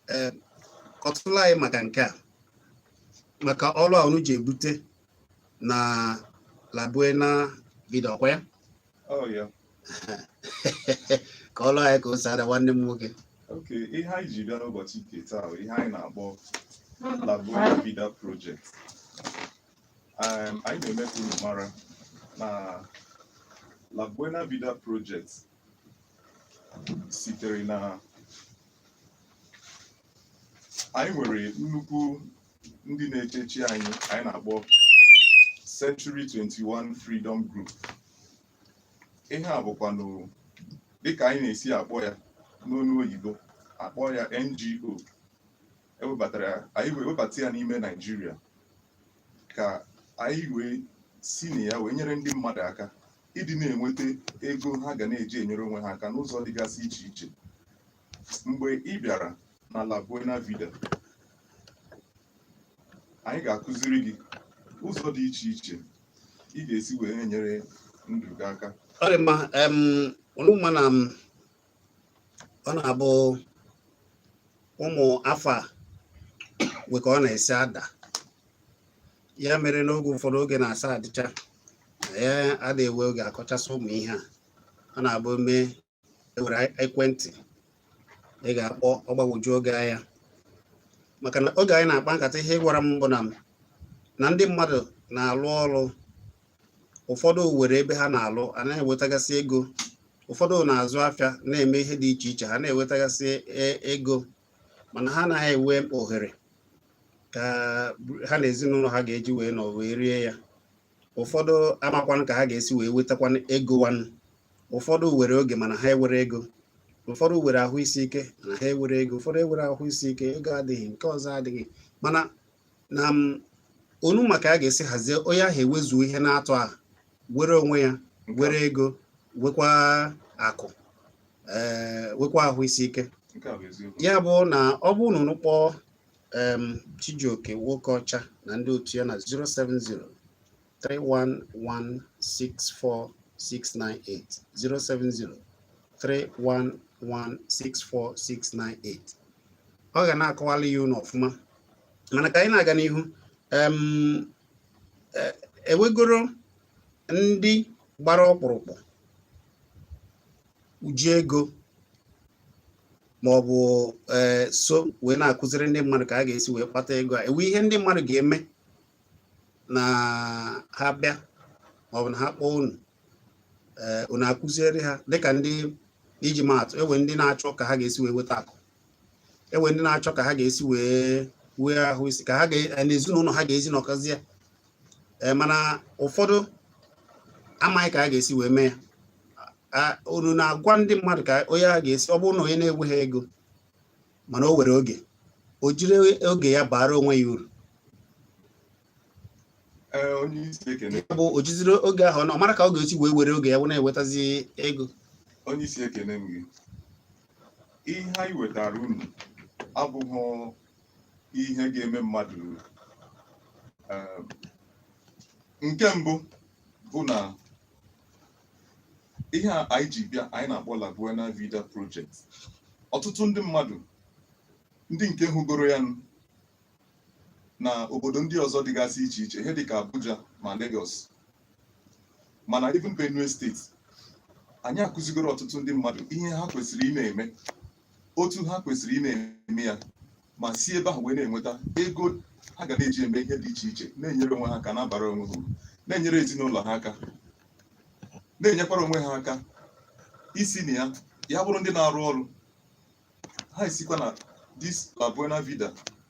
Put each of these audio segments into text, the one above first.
ee kọtụla anyị maka nke a maka ọrụ a unu ji ebute na La Buena Vida ọkwa ya Oh, yeah. kọọrọ anyị ka o si ada nwanne m nwoke Okay, ihe anyị ji bịa n'ụbọchị nke taa bụ ihe anyị na-akpọ La Buena Vida Project. Um, anyị na-eme ka unu mara na La Buena Vida Project sitere na anyị nwere nnukwu ndị na-echechi anyị anyị na-akpọ Century 21 Freedom Group ihe a bụkwanụ dịka anyị na-esi akpọ ya n'onu oyibo akpọ ya NGO ewebatara ya anyị wee webata ya n'ime Naịjirịa ka anyị wee si na ya wee nyere ndị mmadụ aka ịdị na-enweta ego ha ga na-eji enyere onwe ha aka n'ụzọ dịgasị iche iche mgbe ị bịara na La Buena Vida anyị ga-akụziri gị ụzọ dị iche iche ị ga-esi wee na-enyere ndụ gị aka ọ dị mma em, unu ma na m ọ na-abụ ụmụ afa wee ka ọ na-esi ada ya mere n'oge ụfọdụ oge na-asa adịcha ya a da-ewe oge akọchasị ụmụ ihe a ọ na-abụ mee ewere ekwentị ị ga-akpọ ọ gbagwoju gị anya maka na oge anyị na-akpa nkata ihe ị gwara m bụ na na ndị mmadụ na-alụ ọrụ ụfọdụ were ebe ha na-alụ a na-ewetagasị ego ụfọdụ na-azụ afịa na-eme ihe dị iche iche ha na-ewetagasị e, ego mana ha anaghị enwe ohere ka ha na ezinụlọ ha ga-eji wee nọ wee rie ya ụfọdụ amakwanụ ka ha ga-esi wee wetakwanụ ego wanụ ụfọdụ were oge mana ha ewere ego ụfọdụ were ahụ isi ike na ha ewere ego ụfọdụ ewere ahụ isi ike ego adịghị nke ọzọ adịghị mana na m unu ma ka a ga-esi hazie onye ahụ ewezuo ihe n'atọ ahụ were onwe ya were ego wekwa akụ ee wekwa ahụ isi ike nke a bụ eziokwu ya bụ na ọ bụrụ na unu kpọọ em, Chijioke Nwokeọcha na ndị otu ya na 070 311-64698 070 311-64698 ọ ga na-akọwala ya unu ọfụma mana ka anyị na-aga n'ihu ewegoro e ndị gbara ọkpụrụkpụ ji ego ma ọ bụ e, so wee na-akụziri ndị mmadụ ka a ga-esi wee kpata ego a ewe ihe ndị mmadụ ga-eme na ha bịa maọbụ na ha kpọọ unu eh, unu akụziere ha dịka ndị iji maa atụ enwe ndị na-achọ ka ha ga-esi wee weta akụ enwe ndị na-achọ ka ha ga-esi wee nwee ahụ isi ike ka ha eh, na ezinụlọ ha ga-esi nọkọzie eh, mana ụfọdụ amaghị ka ha ga-esi wee mee ya unu na-agwa ndị mmadụ ka onye a ga-esi ọ bụrụ na onye na-enweghị ego mana o nwere oge o jiri oge ya baara onwe ya uru ya bụ o jiziri oge ahụ ọ mara ka ọ ga-esi wee were oge ya wee na-ewetazi ego onye isi ekene m gị ihe anyị wetara unu abụghị ihe ga-eme mmadụ nke mbụ bụ na ihe a anyị ji bịa anyị na-akpọ La Buena Vida Project ọtụtụ ndị mmadụ ndị nke hụgoro ya na obodo ndị ọzọ dịgasị iche iche ihe dịka Abuja ma Lagos ma na even Benue steeti anyị akụzigoro ọtụtụ ndị mmadụ ihe ha kwesịrị ị na-eme otu ha kwesịrị ị na-eme ya ma si ebe ahụ wee na-enweta ego ha ga na-eji eme ihe dị iche iche na-enyere onwe ha aka na-abara onwe ha na-enyere ezinụlọ ha aka na-enyekwara onwe ha aka isi na ya ya bụrụ ndị na-arụ ọrụ ha esikwa na this La Buena Vida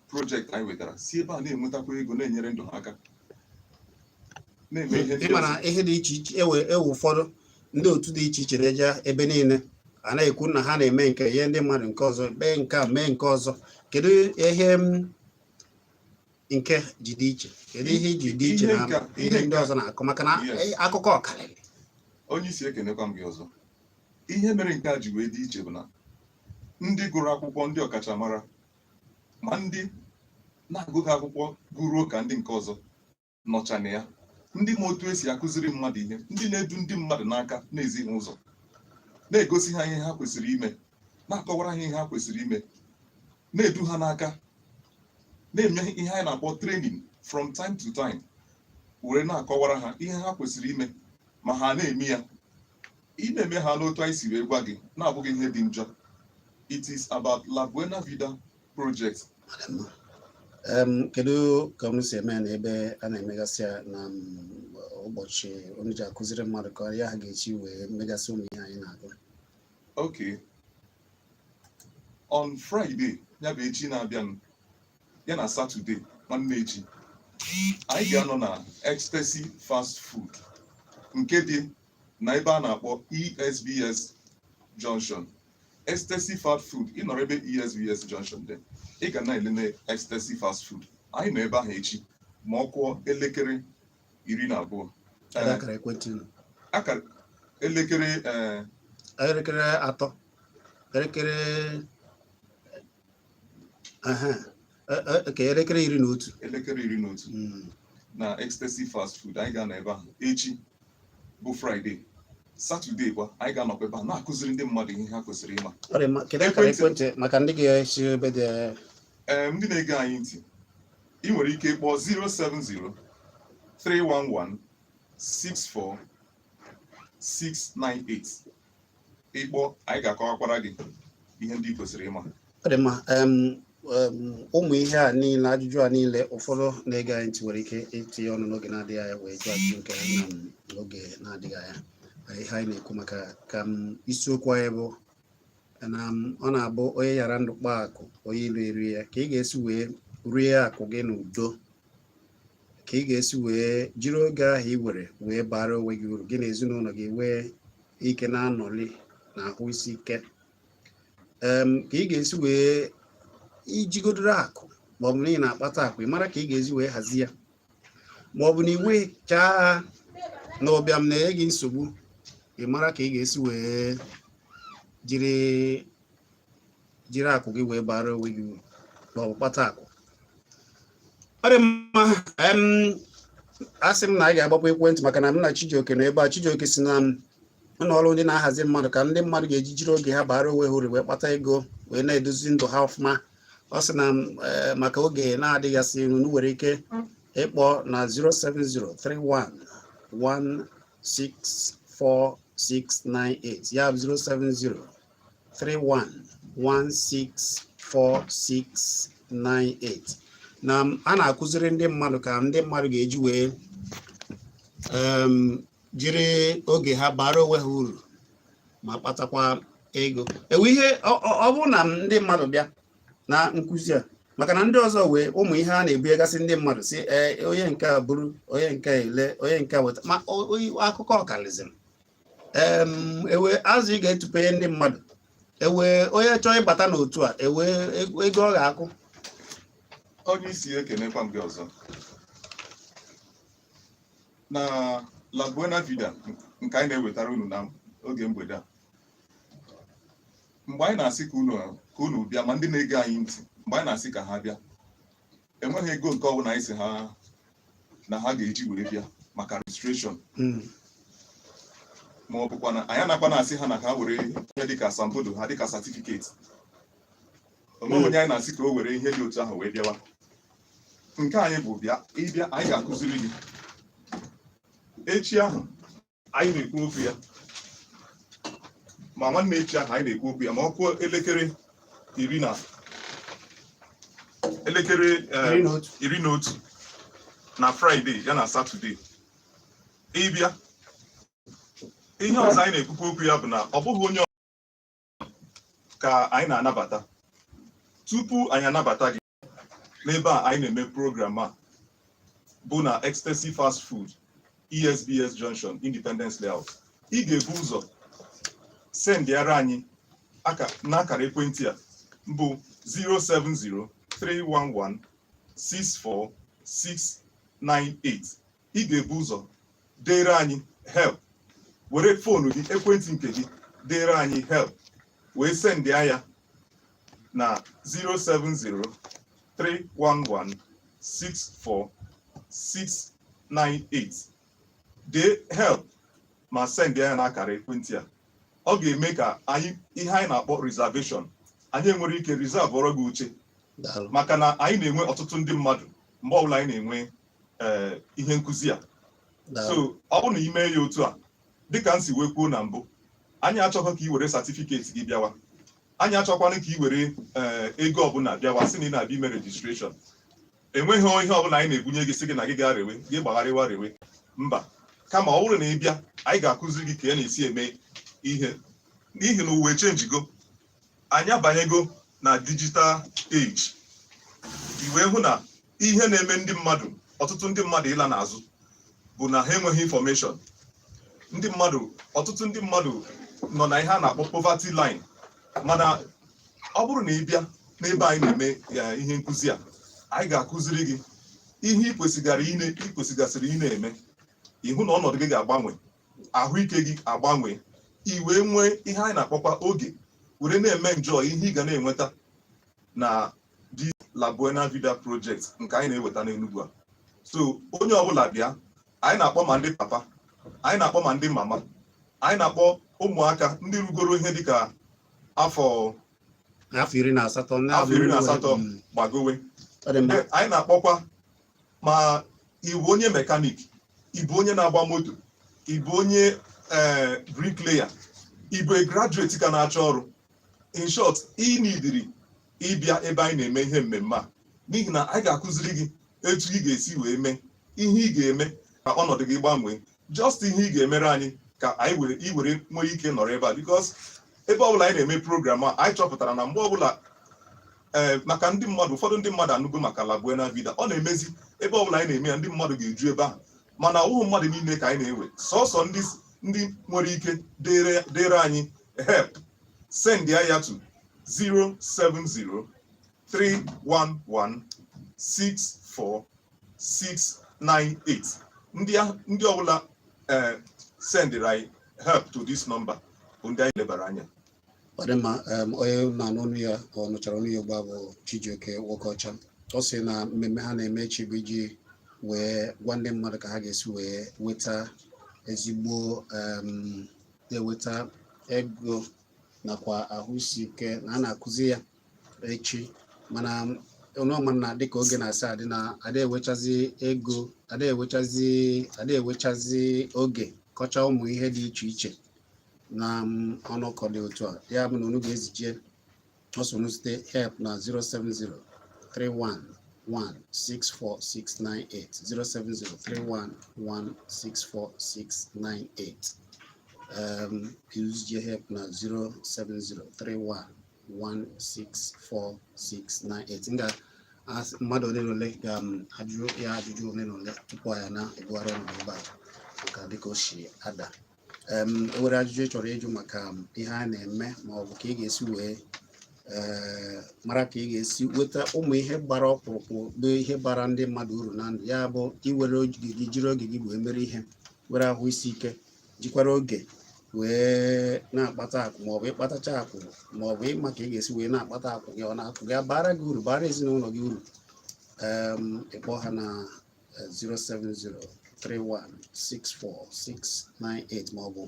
project anyị wetara si ebe a na-enwetakwa ego na-enyere ndụ ha aka na-eme ihe ndị ịmara ọzọ. ihe dị iche iche enwe enwe ụfọdụ ndị otu dị iche iche na-eje ebe niile a na-ekwu na ha na-eme nke ihe ndị mmadụ nke ọzọ mee nke a mee nke ọzọ kedu ihe nke a ji dị iche kedu ihe o ji dị iche Ihe na nke a- ihe ihe ndị nke a- ọzọ na-akọ maka na Yes. eh, akụkọ ọkarịrị onye isi ekenekwa m gị ọzọ ihe mere nke a ji wee dị iche bụ na ndị gụrụ akwụkwọ ndị ọkachamara ma ndị na-agụghị akwụkwọ gụruo ka ndị nke ọzọ nọcha na ya ndị ma otu esi akụziri mmadụ ihe ndị na-edu ndị mmadụ n'aka na-ezi ha ụzọ na-egosi ha ihe ha kwesịrị ime na-akọwara ha ihe ha kwesịrị ime na-edu ha n'aka na-eme ihe anyị na-akpọ training from time to time were na-akọwara ha ihe ha kwesịrị ime ma ha na-eme ya ị na-eme ha n'otu anyị si wee gwa gị na-abụghị ihe dị njọ it is about La Buena Vida project kedu ka unu si eme na ebe a na-emegasị ya na ụbọchị unu ji akụziri mmadụ ka ya ha ga-eji wee megasị ụmụ ihe anyị na-agụ ok on Friday ya bụ echi na-abịanụ ya na satọde nwanne echi anyị ga-anọ na ecstasy fast food nke dị na ebe a na-akpọ esbs junction ecstasy fast food ị nọrọ ebe esbs junction dị ị ga na-elele ecstasy fast food anyị nọ ebe ahụ echi ma ọ kụọ elekere iri na abụọ Ada akara ekwentị unu. akara elekere eh, elekere atọ elekere ka elekere iri na otu elekere iri na otu hmm. na ecstasy fast food anyị ga-anọ ebe ahụ echi bụ fraịde satọde kwa anyị ga-anọkwa ebe a na-akụziri ndị mmadụ ihe ha kwesịrị ịma ekwentị maka ndị ga-esi ebe dị ee ndị na-ege anyị ntị ị nwere ike ịkpọ 070 311 64698 ị kpọọ anyị ga-akọwakwara gị ihe ndị i kwesịrị ịma ọ dị mma ụmụ ihe a niile ajụjụ a niile ụfọdụ na-ege anyị ntị nwere ike itinye ọnụ n'oge na-adịghị anya wee jụọ ajụjụ nke ha n'oge na-adịghị anya ihe anyị na-ekwu maka ka isiokwu anyị bụ na ọ na-abụ onye yara ndụ kpaa akụ onye ilo erie ya ka ị ga-esi wee rie akụ gị n'udo ka ị ga-esi wee jiri oge ahụ i nwere wee baara onwe gị uru gị na ezinụlọ gị nwee ike na-anọli na ahụ isi ike ka ị ga-esi wee ijigodoro akụ ma ọ bụ na ị na-akpata akụ ị mara ka ị ga-esi wee hazie ya ma ọ bụ na i nwechaa ha na ụbịam na-enye gị nsogbu ị mara ka ị ga-esi wee jiri jiri akụ gị wee baara onwe gị uru ma ọ bụ kpata akụ ọ dị mma asị m na anyị ga-agbapụ ekwentị maka na m na Chijioke nọ ebe a Chijioke si na ụlọ ọrụ ndị na-ahazi mmadụ ka ndị mmadụ ga-eji jiri oge ha baara onwe ha uru wee kpata ego wee na-edozi ndụ ha ọfụma ọ sị na eh, maka oge na-adịghị asị iru nwere ike ịkpọ na 07031164698 ya 070 31164698 na a na-akụziri ndị mmadụ ka ndị mmadụ ga-eji wee jiri oge ha baara onwe ha uru ma kpatakwa ego e nwee ihe ọ bụrụ na ndị mmadụ bịa na nkụzi a maka na ndị ọzọ nwee ụmụ ihe a na-ebunyegasị ndị mmadụ sị ee onye nke a buru onye nke a ele onye nke a weta ma akụkọ ọ kaliziri ewe azụ ị ga-etupenye ndị mmadụ ewe onye chọọ ịbata n'otu a ewe ego ọ ga-akwụ onye isi ekenekwa m gị ọzọ na La Buena Vida nke anyị na-ewetara unu na oge mgbede a mgbe anyị na-asị ka unu bịa ma ndị na-ege anyị ntị mgbe anyị na-asị ka ha bịa enweghị ego nke ọbụla anyị sị ha na ha ga-eji were bịa maka rejistreshọn hmm. ma ọ bụkwa na anyị anakwa na-asị ha na ka ha were ihe dịka asambodo ha dịka satifiketi o nweghị onye anyị na-asị ka o were ihe dị otu ahụ wee bịawa nke anyị bụ bịa ị bịa anyị ga-akụziri gị echi ahụ anyị na-ekwu okwu ya ma nwanne echi ahụ anyị na-ekwu okwu ya ma ọ kụọ elekere iri na elekere eh, Iri na otu. iri na otu na fraịde ya na satọde ị bịa ihe ọzọ anyị na-ekwukwa okwu ya bụ na ọ bụghị onye ọ- ka anyị na-anabata tupu anyị anabata gị n'ebe a anyị na-eme program a bụ na Ecstasy Fast Food ESBS Junction Independence Layout ị ga-ebu ụzọ sendịara anyị n'akara ekwentị a bụ 070 311 64698 ị ga-ebu ụzọ deere anyị help were fonu gị ekwentị nke gị deere anyị help wee sendịa ya na 07031164698 dee help ma sendịa ya na akara ekwentị a ọ ga-eme ka anyị ihe anyị na-akpọ reservation anyị enwere ike reserveọrọ gị oche maka na anyị na-enwe ọtụtụ ndị mmadụ mgbe ọbụla anyị na-enwe ee eh, ihe nkụzi a so ọ bụrụ na ị mee ya otu a dịka m si wee kwuo na mbụ anyị achọghị ka ị were satifiketi gị bịawa anyị achọkwana ka ị were eh, ego ọbụla bịawa sị na ị na-abịa ime rejistreshọn enweghị ihe ọbụla anyị na-ebunye gị sị gị na gị gaa rewe gị gbagharịwa rewe mba kama ọ bụrụ na ị bịa anyị ga-akụziri gị ka ị ya na-esi eme ihe n'ihi na ụwa chenjigo anyị abanyego na digital age i wee hụ na ihe na-eme ndị mmadụ ọtụtụ ndị mmadụ ịla n'azụ bụ na ha enweghị infọmeshọn ndị mmadụ ọtụtụ ndị mmadụ nọ na ihe a na-akpọ poverty line mana ọ bụrụ na ị bịa n'ebe anyị na-eme ihe nkụzi a anyị ga-akụziri gị ihe ị kwesịgara ine ị kwesịgasịrị ịna-eme ịhụ na ọnọdụ gị ga-agbanwe ahụike gị agbanwee i wee nwee ihe anyị na-akpọkwa oge were na-eme enjoy ihe ị ga na-enweta na the La Buena Vida Project nke anyị na-eweta n'Enugu a so onye ọbụla bịa anyị na-akpọ ma ndị papa anyị na-akpọ ma ndị mama anyị na-akpọ ụmụaka ndị rugoro ihe dịka afọ afọ iri na asatọ gbagowe anyị na-akpọkwa ma ị wụ onye mekanik ị bụ onye na-agba moto ị bụ onye eh, bricklayer ị bụ a graduate ka na-achọ ọrụ in short ị nidiri ịbịa ebe anyị na-eme ihe mmemme a n'ihi na anyị ga-akụziri gị etu ị ga-esi wee mee ihe ị ga-eme ka ọnọdụ gị gbanwee just ihe ị ga-emere anyị ka anyị were i were nwee ike nọrọ ebe a because ebe ọbụla anyị na-eme program a anyị chọpụtara na mgbe ọbụla ee eh, maka ndị mmadụ ụfọdụ ndị mmadụ anụgo maka La Buena Vida ọ na-emezi ebe ọbụla anyị na-eme ya ndị mmadụ ga-eju ebe ahụ mana ọ bụghị mmadụ niile ka anyị na-ewe sọsọ ndị ndị nwere ike deere anyị help sendịa ya to 070 311 64 698 ndị ndị ọbụla eh, sendịrị anyị help to this number bụ ndị anyị lebara anya ọ dị mma onye na-anụ onu ya ọ nụchara onu ya ugbu a bụ Chijioke Nwokeọcha ọ sị na mmemme ha na-eme echi bụ iji wee gwa ndị mmadụ ka ha ga-esi wee nweta ezigbo na-eweta ego nakwa ahụ isi ike na a na-akụzi ya echi mana unu ma na dịka oge na-esi adị na ada ewechazi ego ada ada ewechazi oge kọcha ụmụ ihe dị iche iche na ọnọkọ dị otu a ya bụ na unu ga-ezije ọ sọ unu zite help na 070 31 164698 07031164698 unu zije help na 07031 164698 ngwa mmadụ ole na ole ga-ajụ um, ya ajụjụ ole na ole tupu ya na-ebugharị ọnụ ebe a maka dịka o si ada um, o nwere ajụjụ ị chọrọ ịjụ maka um, ihe a na-eme ma ọ bụ ka ị ga-esi wee eh, mara ka ị ga-esi weta ụmụ ihe gbara ọkpụrụkpụ bụ ihe bara ndị mmadụ uru na ndụ ya bụ i were oge gị jiri oge gị wee mere ihe were ahụ isi ike jikwara oge wee na-akpata akụ maọbụ ịkpatacha akụ maọbụ ịma ka ị ga-esi wee na-akpata akụ gị ọ na-akụ gị abara gị uru bara ezinụlọ gị uru ị kpọọ ha na 07031164698 maọbụ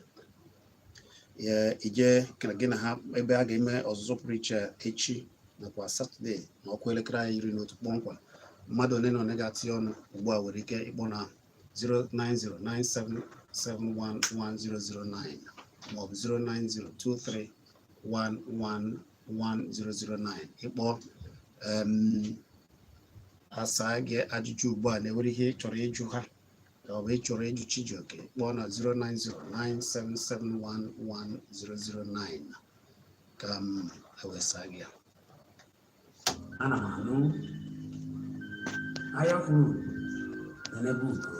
ije ka gị na ha ebe a ga-eme ọzụzụ pụrụ iche echi nakwa satọde na ọ kụọ elekere iri na otu kpọmkwem mmadụ ole na ole ga-etinye ọnụ ugbu a nwere ike ịkpọ na 09097711009 maọbụ 09023111009 ị kpọọ a saa gị ajụjụ ugbu a na-enwere ihe ị chọrọ ịjụ ha ka ọ bụ ị chọrọ ịjụ Chijioke kpọọ na 09097711009 ka m wee saa gị ya ana m anụ anya fụrụ nebe ugo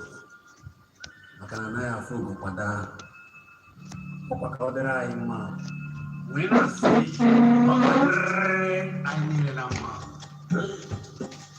maka na anaghị afụ ugo kwa daa ọ kwa ka ọ dịrị anyị mma wee na-asị ọ ga-adịrị anyị niile na mma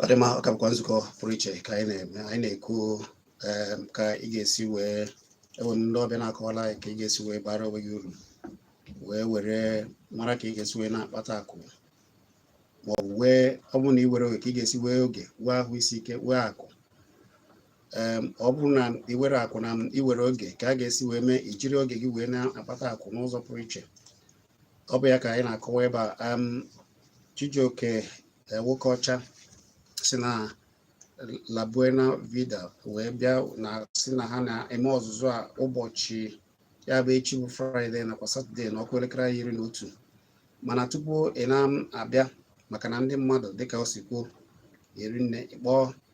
ọ dị mma ọ ka bụkwa nzukọ pụrụ iche ka anyị na-eme anyị na-ekwu ka ị ga-esi wee ewere ndị ọbịa na-akọwala anyị ka ị ga-esi wee bara onwe gị uru wee were mara ka ị ga-esi wee na-akpata akụ ma ọ bụ wee ọ bụrụ na ị were oge ka ị ga-esi wee oge wee ahụ isi ike wee akụ ọ bụrụ na ị were akụ na ị were oge ka a ga-esi wee mee ị jiri oge gị wee na-akpata akụ n'ụzọ pụrụ iche ọ bụ ya ka anyị na-akọwa ebe a Chijioke e, Nwokeocha si na La Buena Vida wee bịa na-asị na ha na-eme ọzụzụ a ụbọchị ya bụ echi bụ fraịde nakwa satọde na ọ kụọ elekere iri na otu mana tupu ị na-abịa maka na ndị mmadụ dịka o si kwuo eri nne ị kpọọ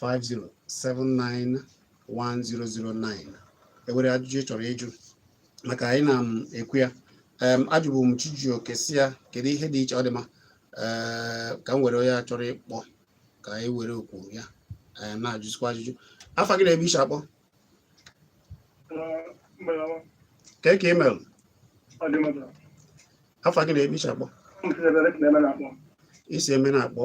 08050791009 enwere ajụjụ ị chọrọ ịjụ maka anyị na m ekwu ya ajụbụ m Chijioke sị ya kedu ihe dị iche ọ dị ma eh, ka m were onye a chọrọ ịkpọ ka anyị were okwu ya eh, na-ajụzikwa ajụjụ afa gị na ebe ị si akpọ ka ị mere afa gị na ebe ị si akpọ ị si ebee na-akpọ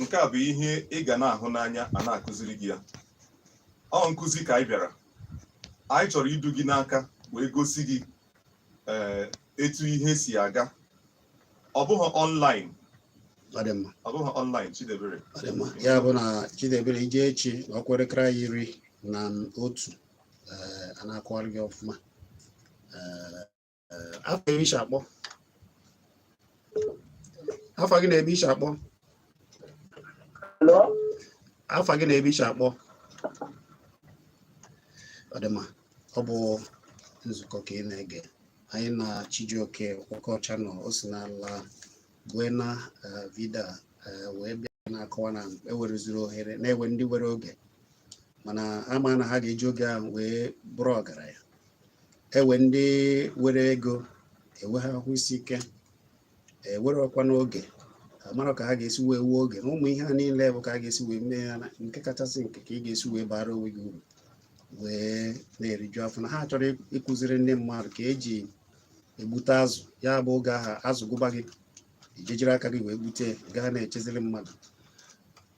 nke a bụ ihe ị ga na-ahụ n'anya a na-akụziri gị ya ọ nkụzi ka anyị bịara anyị chọrọ idu gị n'aka wee gosi gị eh, etu ihe si aga ọ bụghị ọnlaịn ọ dị mma ọ bụghị ọnlaịn Chidebere ọ dị mma ya bụ na Chidebere ị jee echi na ọ kụọ elekere iri na otu eh, a na-akọwara gị ọfụma eh, Eh, afa ebe ị si akpọ afa gị na ebe ị si akpọ afa gị na ebe ị si akpọ ọ dị mma ọ bụ nzukọ ka ị na-ege anyị na Chijioke Nwokeocha nọ o si na La Buena eh, Vida eh, wee bịa na-akọwa na ewereziri ohere na ewe ndị were oge mana ha ama na ha ga-eji oge ahụ wee bụrụ ọgaranya enwee ndị nwere ego enwee ha ahụ isi ike enwere ọkwa n'oge amara ka ha ga-esi wee nwee oge na ụmụ ihe a niile bụ ka a ga-esi wee mee ya nke kachasị nke ka ị ga-esi wee bara onwe gị uru wee na-eriju afọ na ha chọrọ ịkụziri ndị mmadụ ka eji egbute azụ ya bụ oge ahụ azụ gụba gị i jee jiri aka gị wee gbute ghara na-echeziri mmadụ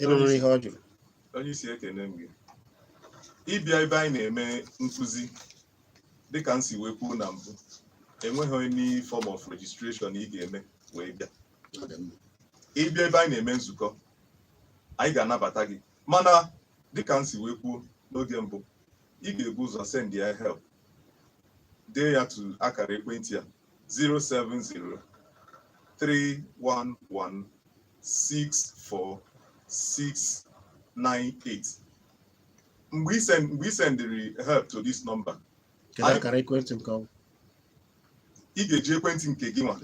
ị nụrụ ihe ọ jụrụ onye isi ekene m gị ịbịa ebe anyị na-eme nkụzi dịka m si wee kwuo na mbụ enweghị any form of registration ị ga-eme wee bịa Ọ dị mma. ịbịa ebe anyị na-eme nzukọ anyị ga-anabata gị mana dịka m si wee kwuo n'oge mbụ ị ga-ebu ụzọ sendịa help dee ya to akara ekwentị a 64698 mgbe i send mgbe i sendịrị help to this number kedu Anyị- akara ekwentị nke ọ bụ ị ga-eji ekwentị nke gị nwa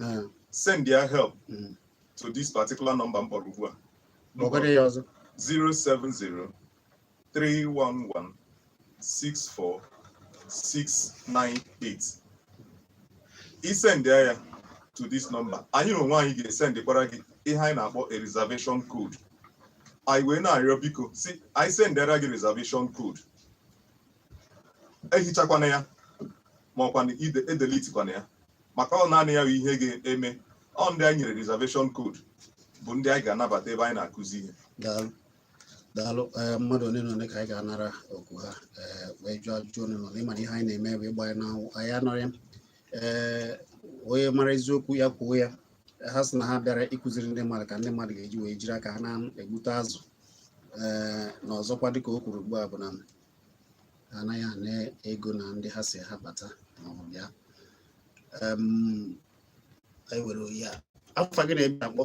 sendịa help Mm. to this particular number m kpọrọ ugbu a kpọgodi ya ọzọ 070 311 64 698 i sendịa ya to this number anyị n'onwe anyị ga-esendịkwara gị ihe anyị na-akpọ a reservation code anyị wee na-arịọ biko sị anyị sendịara gị reservation code ehichakwana ya ma ọ kwanụ ide- edelitikwana ya maka ọ naanị ya bụ ihe ga-eme ọ ndị anyị nyere reservation code bụ ndị anyị ga-anabata ebe anyị na-akụzi ihe daalụ daalụ eh, mmadụ ole na ole ka anyị ga-anara oku ha eh, wee jụọ ajụjụ ole na ole ị ma na ihe anyị na-eme bụ ịgba n'anwụ anyị anọrọ ya ee eh, onye mara eziokwu ya kwuo ya ha sị na ha bịara ịkụziri ndị mmadụ ka ndị mmadụ ga-eji wee jiri aka ha na-egbute azụ ee na ọzọkwa dịka o kwuru ugbu a bụ na ha anaghị ana ego na ndị ha sị ha bata maọbụ bịa anyị were onye a afa gị na ebe i si akpọ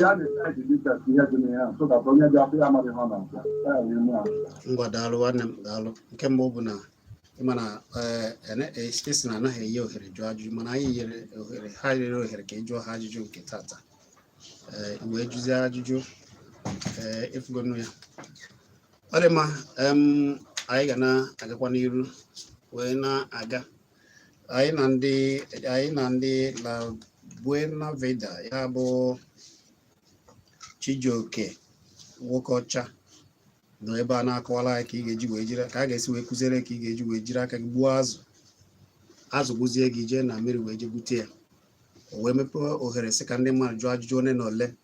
ya na-eme anyị ji details ihe dị na ya so that onye ga-afụ ya amaghị ha na nka ya ya eme ahụ ngwa daalụ nwanne m daalụ nke mbụ bụ na ị ma na eh, ene- eh, a sị na anaghị enye ohere jụọ ajụjụ mana anyị nyere ohere ha nyere ohere ka ị jụọ ha ajụjụ nke tata Eh, i wee jụzie ajụjụ eh, ị fụgonụ ya ọ dị mma em, anyị ga na-agakwa n'iru wee na-aga anyị na ndị anyị na ndị La Buena Vida ya bụ Chijioke Nwokocha nọ ebe a na-akọwara anyị ka ị ga-eji wee jiri ka a ga-esi wee kụziere ka ị ga-eji wee jiri aka gị gbuo azụ azụ gụzie gị jee na mmiri wee jee gbute ya o wee mepee ohere sị ka ndị mmadụ jụọ ajụjụ ole na ole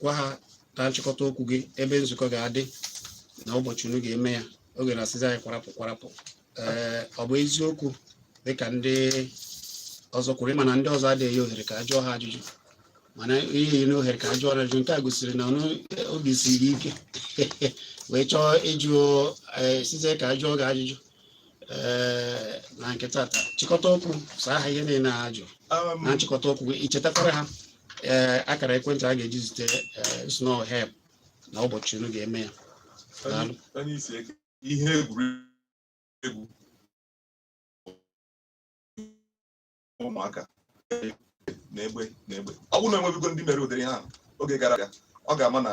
gwa ha na nchịkọta okwu gị ebe nzukọ ga-adị na ụbọchị unu ga-eme ya oge na-asịzi anyị kwarapụ kwarapụ ee ọ bụ eziokwu dịka ndị ọzọ kwuru ịma na ndị ọzọ adịghị enye ohere ka a jụọ ha ajụjụ mana inye ohere ka a jụọ ha ajụjụ nke a gosiri na obi siri ike wee chọọ ịjụ sịzie ka a jụọ gị ajụjụ ee na nke tata chịkọta okwu saa ha ihe niile ha jụ na nchịkọta okwu gị ichetakwara ha ee akara ekwentị a ga-eji zite ee, send help na ụbọchị unu ga-eme ya Daalụ. onye isi eke ihe egwuregwu ụmụaka na-egbe na-egbe ọ bụrụ na enwebigo ndị mere ụdịrị ihe a oge gara aga ọ ga-ama na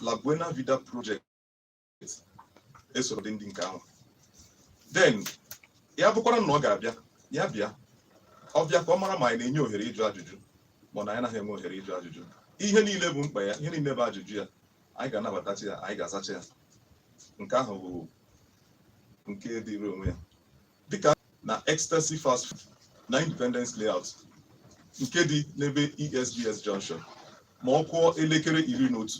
La Buena Vida Project esoro dị ndị nke ahụ then ya bụkwara na ọ ga-abịa ya bịa ọ bịa ka ọ mara ma anyị na-enye ohere ịjụ ajụjụ ma na anyị anaghị enwe ohere ịjụ ajụjụ ihe niile bụ mkpa ya ihe niile bụ ajụjụ ya anyị ga-anabatacha ya anyị ga-azacha ya nke ahụ bụ nke dịrị onwe ya dịka na ecstasy fast food na independence layout nke dị n'ebe esbs junction ma ọ kụọ elekere iri na otu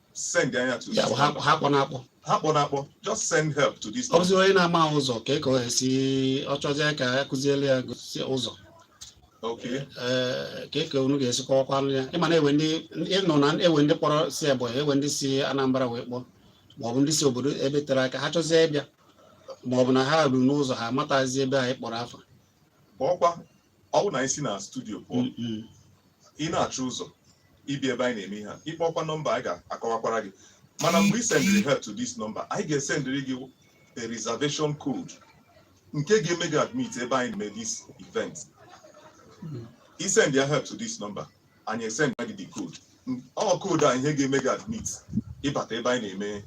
send ya to Ya, this ha number. ha akpọna akpọ ha kpọrọ akpọ just send help to this number. ọ bụzi onye na-amaha ụzọ ka ị ka o esi ọ chọzie ka a kụziele ya gosi ụzọ okay ee ka ị ka unu ga-esi kọwakwanụ ya ịma na enwe ndị ịnụ na enwe ndị kpọrọ si Ebonyi enwe ndị si Anambra wee kpọọ maọbụ ndị si obodo ebe tere aka ha chọzie ịbịa maọbụ na ha ruru n'ụzọ ha amatazi ebe anyị kpọrọ afa kpọọkwa ọ bụ na anyị si na studio pụọ ị na-achọ ụzọ ịbịa ebe anyị na-eme ihe a ịkpọkwa nọmba anyị ga-akọwakwara gị mana mgbe ị sendịrị help to this number anyị ga-esendịrị gị a reservation code nke ga-eme gị admit ebe anyị na-eme this event ị send ya help to this number anyị esend gị the code ọ code a ihe ga-eme gị admit ịbata ebe anyị na-eme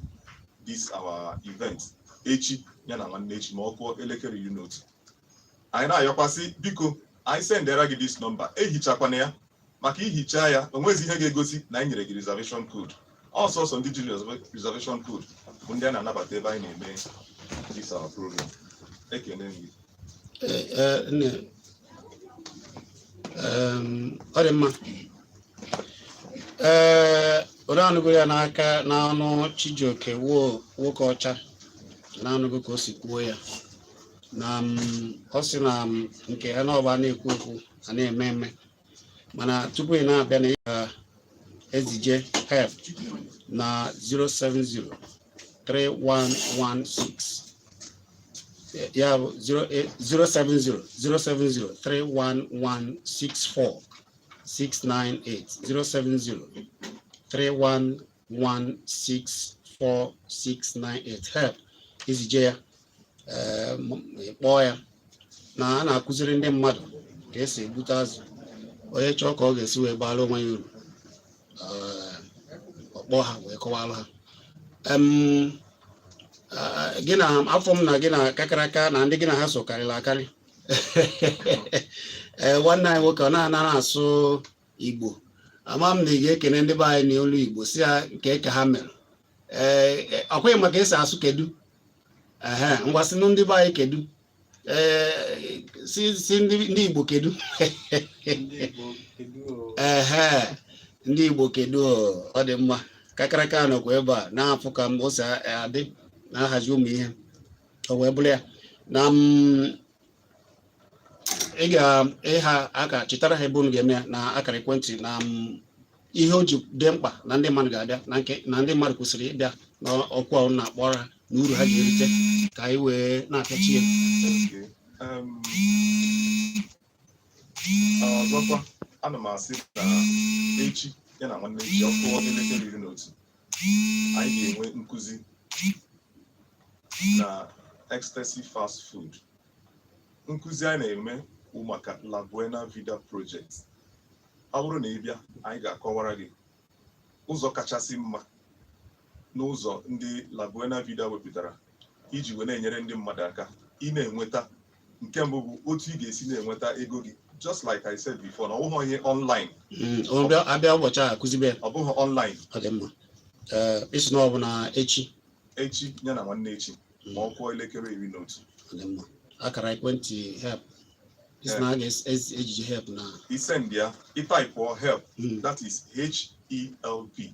this our event echi ya na nwanne echi ma ọ kụọ elekere iri na otu anyị na-ayọkwasị biko anyị sendera gị this nọmba ehichakwana ya maka i hichaa ya onwezi ihe ga-egosi na anyị nyere gị reservation code ọ sọsọ ndị jiri reservation code bụ ndị a na-anabata ebe anyị na-eme this our program ekene gị Eh, eh, nne Em, ọ dị mma ee unu anụgo ya n'aka n'ọnụ chijioke wo nwokeọcha unu anụgo ka o si kwuo ya na ọ sị na nke a na ọ bụ a na-ekwu okwu a na-eme eme mana tupu ị na-abịa na ị ga-ezije help na 070 3116 ya bụ 070-070-311-64-698 070-311-64-698 help i zije ya kpọọ ya na a na-akụziri ndị mmadụ ka esi egbute azụ onye chọọ ka ọ ga-esi wee baara onwe ya uru ọ kpọọ ha wee kọwaara ha gị na afụ m na gị na kakaraka na ndị gị na ha so karịrị akarị ee nwanne anyị nwoke ọ na-anara asụ igbo ama m na ị ga-ekene ndị be anyị n'olu igbo sị ha nke ka ha mere ọkwa ị ma ka esi asụ kedu ngwa sịnụ ndị be anyị kedu sị ndị Igbo kedu ee ndị Igbo kedu ọ dị mma kakaraka nọkwa ebe a na-afụ ka m o si adị na-ahazi ụmụ ihe o wee bụrụ ya na ị ga-ịha aka chetara ha ebe unu ga-eme ya na akara ekwentị na mm, ihe o ji dị mkpa na ndị mmadụ ga-abịa na nke na ndị mmadụ kwesịrị ịbịa n'oku a unu na-akpọ ha na uru ha ga-erite ka anyị wee na-apịachi ya ọzọkwa ana m asị na echi ya na nwanne echi ọ kụọ elekere iri na otu anyị ga-enwe nkụzi na ecstasy fast food nkụzi anyị na-eme bụ maka La Buena Vida Project ọ bụrụ na ị bịa anyị ga-akọwara gị ụzọ kachasị mma n'ụzọ ndị La Buena Vida wepụtara iji wee na-enyere ndị mmadụ aka ị na-enweta nke mbụ bụ otu ị ga-esi na-enweta ego gị just like I said before na ọ bụghị ihe online Mm, ọ bịa- a bịa ụbọchị a kụzibe ya. ọ bụghị online ọ dị mma Ee, ị sị na ọ bụ na echi echi ya na nwanne echi ma ọ kụọ elekere iri na otu ọ dị mma akara ekwentị help ị sị na a ga-ezije help na ị send ya ị taipụọ help Mm, that is h-e-l-p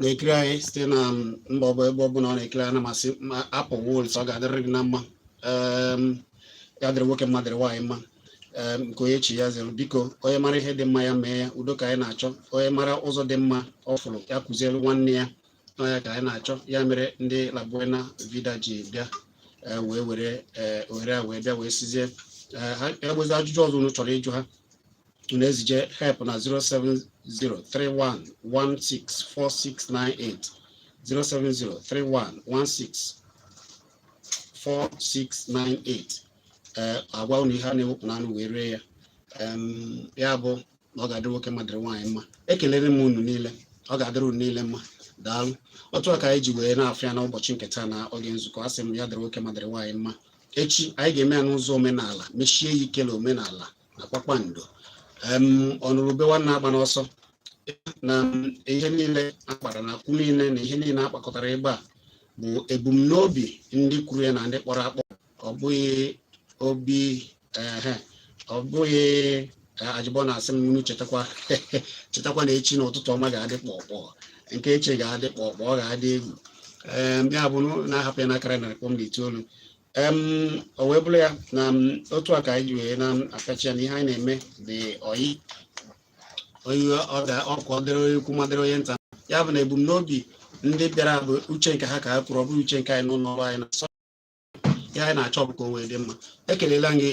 na-ekiri anyị site na mba ọbụ ebe ọbụla ọ na-ekiri anyị ana m asị hapụ worries ọ ga-adịrịrị gị na mma ya dịrị nwoke mma dịrị nwaanyị mma nke onye chi ya zere biko onye mara ihe dị mma ya mee ya udo ka anyị na-achọ onye mara ụzọ dị mma ọ fụrụ ya kụziere nwanne ya na ọ ya ka anyị na-achọ ya mere ndị labuena vida ji bịa e, wee were e, ohere a wee bịa wee sịzie e, ha e nwezi ajụjụ ọzọ unu chọrọ ịjụ ha unu ezije help na 07031164698 07031164698 ee agwa unu ihe a na-ewepụ n'anụ wee ree ya ya bụ na ọ ga-adịrị nwoke mma dịrị nwaanyị mma ekelere m unu niile ọ ga-adịrị unu niile mma daalụ otu a ka anyị ji wee na-afụ ya n'ụbọchị nke taa na oge nzukọ a sị m ya dịrị nwoke mma dịrị nwaanyị mma echi anyị ga-eme ya n'ụzọ omenala mesie ya ike na omenala na kpakpando ọnụrụ ube nwanne agbana ọsọ na ihe niile a kpara na okwu niile na ihe niile a kpakọtara ebe a bụ ebumnobi ndị kwuru ya na ndị kpọrọ akpọ ọ bụghị obi ehe ọ bụghị eh, ajụbọ na-asị m unu chetakwa chetakwa na echi na ụtụtụ ọma ga-adị kpọkpọ nke echi ga-adị kpọkpọ ọ ga-adị egwu ya bụ unu na-ahapụ ya n'akara narị kpọm na itoolu o wee bụrụ ya na otu a ka anyị ji wee na-akachi ya na ihe anyị na-eme dị oyi oyi ọ ga ọkụ ọ dịrị onye ukwu mma dịrị onye nta ya bụ na ebumnobi ndị bịara bụ uche nke ha ka ha kwuru ọ bụghị uche nke anyị n'ụlọ ọrụ anyị na ihe anyị na-achọ bụ ka o wee dị mma ekeleela m gị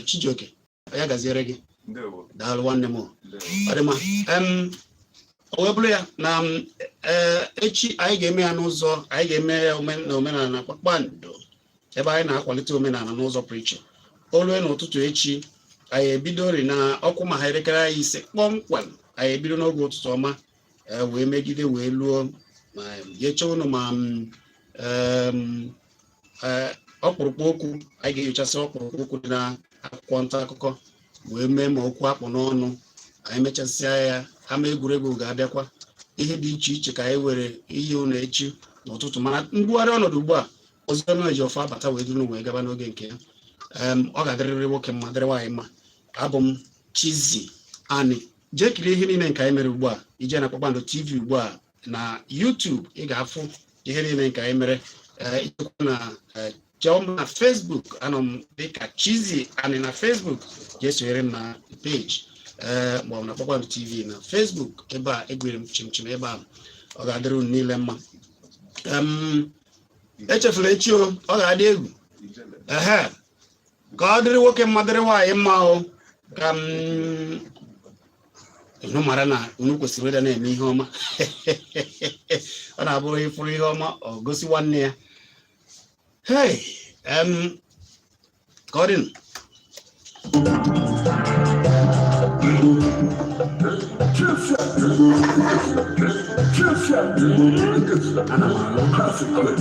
Chijioke ya gaziere gị daalụ nwanne m ọ dị mma o wee bụrụ ya na e, echi anyị ga-eme ya n'ụzọ anyị ga-eme ya na omenala na kpakpando ebe anyị na-akwalite omenala n'ụzọ pụrụ iche o lue n'ụtụtụ echi anyị ebidori na ọ kụma ha elekere anya ise kpọmkwem anyị ebido n'oge ụtụtụ ọma e wee megide wee luo ma nyecha unu ma e, ọkpụrụkpụ okwu anyị ga-enyochasị ọkpụrụkpụ okwu dị na akwụkwọ nta akụkọ wee mee ma okwu a kpụ n'ọnụ anyị mechasịa ya ama egwuregwu ga-abịakwa ihe dị iche iche ka anyị nwere inye unu echi n'ụtụtụ mana mbugharị ọnọdụ ugbu a Oziọma Ejiọfọ abata wee duru unu wee gaba n'oge nke ya ọ ga-adịrịrị nwoke mma dịrị nwaanyị mma abụ m Chizzy Ani jee kirie ihe niile nke anyị mere ugbu a i jee na kpakpando tv ugbu a na YouTube ị ga-afụ ihe niile nke anyị mere eh, i jekwa na eh, chọọ m na Facebook anọ m dịka Chizzy Ani na Facebook jee sonyere m na peji ee eh, ma ọ bụ na kpakpando tv na Facebook ebe a egwere m chimchim ebe a ọ ga-adịrị unu niile mma echefula echi ọ ga-adị egwu ka ọ dịrị nwoke mma dịrị nwaanyị mma o ka m unu mara na unu kwesịrị ịdị na-eme ihe ọma ọ na-abụ onye fụrụ ihe ọma o gosi nwanne ya hey em ka ọ dịnụ ana m alụ